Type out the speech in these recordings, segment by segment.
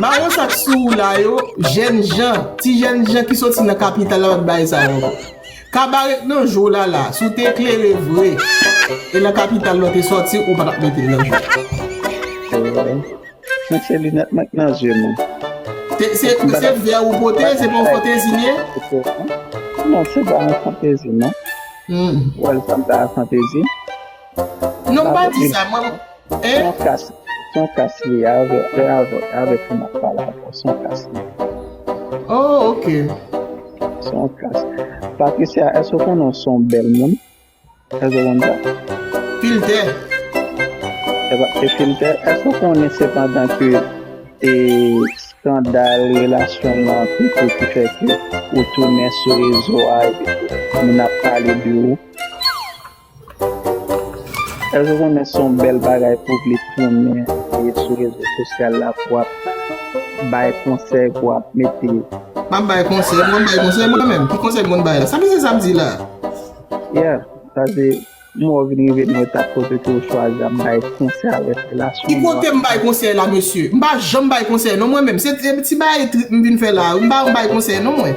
Maron sak sou ou la yo jènjan ti jènjan ki soti nan kapital la pat bay sa ankò kabaret nan jou la la si w te eklere vre e nan kapital la w te soti ou pa tap mete l nan jou Mwen se linèt mwen k nan zye m Se vè ou pote se pa yon fantezi liye? Non se pa yon fantezi non Ou wè l sanble ak yon fantezi? Non m pa di sa mwen Son kas son kas li ye avè avè avèk ou map pale avè w son kas li ye. Oh ok. Son kas. Patricia èske ou konnen w son bèl moun? Èske w konn sa? Filtè. Se pa se filtè. Èske ou konnen sepandan ke e skandal relasyon w lan tout ou ki fè ke ou tounen sou rezo a epi moun ap pale de ou? Èske w konnen se yon bèl bagay pou w vle tounen e sou rezo sosyal la pou w ap bay konsèy pou w ap mete. M ap bay konsèy? M konn bay konsèy mwen menm? Ki konsèy m konn bay la? Sa misye sa ap di la a? Yeah, sa se m wè w vin rive nan etap kote ke w chwazi ap bay konsèy avèk relasyon nou an. Ki kote m bay konsèy la mesye? M pa janm bay konsèy non mwen menm. Se ti bagay trip m vin fè la a wi. M pa yon bay konsèy non mwen.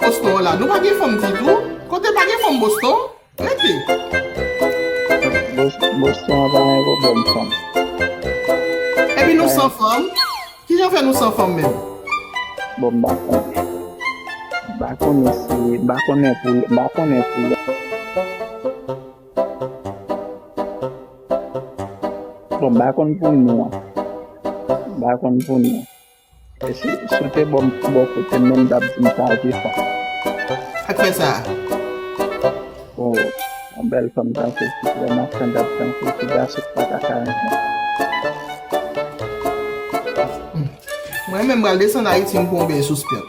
Boston hola nou pa gen fanm ditou kote pa gen fanm boston rete. Boston an pa gen problèm fanm. Epi nou san fanm kijan fè nou san fanm menm. Bon m pa konnen. M pa konnen si m pa konnen pou m pa konnen pou. Bon m pa konn pou nou an. M pa konn pou nou an. E si w te ban m bò kote m menm m t ap di m sa te fon. Sak fè sa a? O, yon bèl fanm tankou w, ki vrèman standard tankou w, ki gason ki pa ta ka renmen l. Mwen menm m pral desann Ayiti m konbe sou spyòt.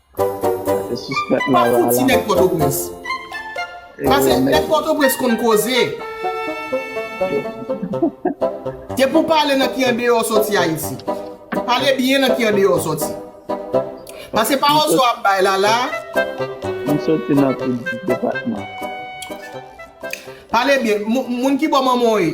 Pase sispèk la la la. Pase nèg pòtoprens konn koze. Depi w pale nan ki andeyò soti ayiti. Pale byen nan ki andeyò soti. Pase pawòl sa w ap bay la la. M soti nan tout depatman. Pale byen. Moun ki bò manman w ye?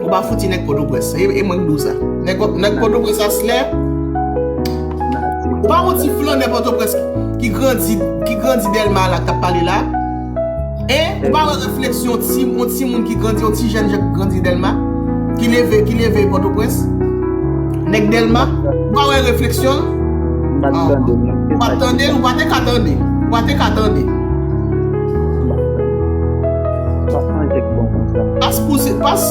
Ou pa fouti nèg potoprens. E mwen k di w sa. Nèg potoprens aslè. Ou pa wè yon ti flannè potoprens ki grandi ki grandi delma la kap pale la. E ou pa wè refleksyon ti yon ti moun ki grandi yon ti jèn jèn ki grandi delma. Ki leve ki leve potoprens. Nèg delma. Ou pa wè refleksyon l. Ou pa tande l. Ou pa te ka tande l. Ou pa te ka tande l. Wap manje k bon konsa. Pas pou se pas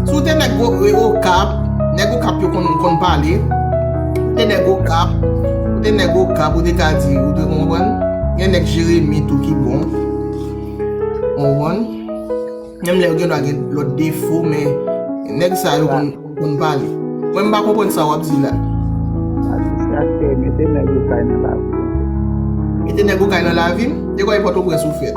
Si w te nèg okap Nèg okap yo konn konn pale Ou te nèg okap Ou te nèg okap ou te ka di Ou te konprann Gen nèg jeremi tou ki bon Ou konprann Menm lè yo gendwa gen lòt defo men Nèg sa yo konn konn pale Mwen m pa konprann sa wap di la Sa distraktè Mete nèg okay nan lavi w Mete nèg okay nan lavi m E kòmè pòtoprens ou fèt.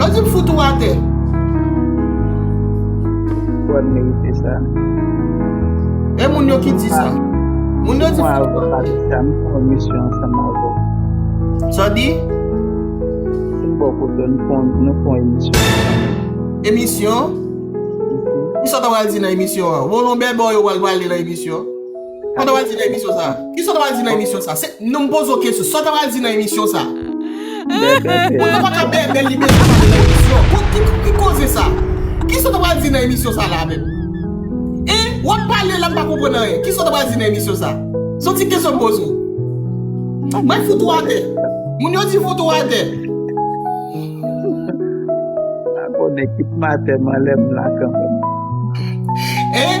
Yo di m fout ou atè. Kwè m merite sa. E moun yo ki di sa. Moun yo di fout ou atè. Mwen al vwa pale sa m fè yon misyon ansanm avè w. Sa w di? Se m ba w kote m fè yon emisyon ansanm. Emisyon? Kisa w ta pral di nan emisyon an? Volonbè ba w yo pral pale nan emisyon? Sa w ta pral di nan emisyon sa? Kisa w ta pral di nan emisyon sa? Se, non m poze w kesyon, sa w ta pral di nan emisyon sa? Bèbè se. Ou ta pa ka bèbè li bezwen pale nan emisyon. Bon ki, ki koze sa? Kisa w ta pral di nan emisyon sa la menm? Hein? W ap pale la m pa konprann anyen. Kisa w ta pral di nan emisyon sa? Se yon ti kesyon m poze w. Mwen fout ou atè. Moun yo di fout ou atè. Abone kit m atè m anlè m la kanmèm. Hein?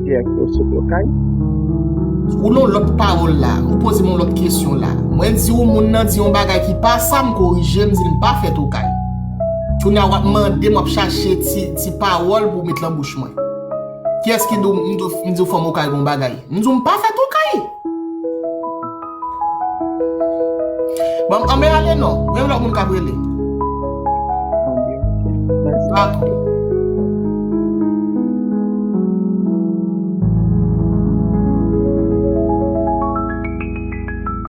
Pierre Claude sot okay. Ou non lòt pawòl la, ou poze m yon lòt kesyon la. Mwen di ou moun nan di yon bagay ki pa sa, m korije, m di l m pa fèt okay. Kounye a w ap mande m, w ap chache ti pawòl pou w met lan bouch mwen. Kiyès ki di w m di w fèm okay gen yon bagay? M di w m pa fèt okay! Banm anbe ale non. Menm lò moun kap rele.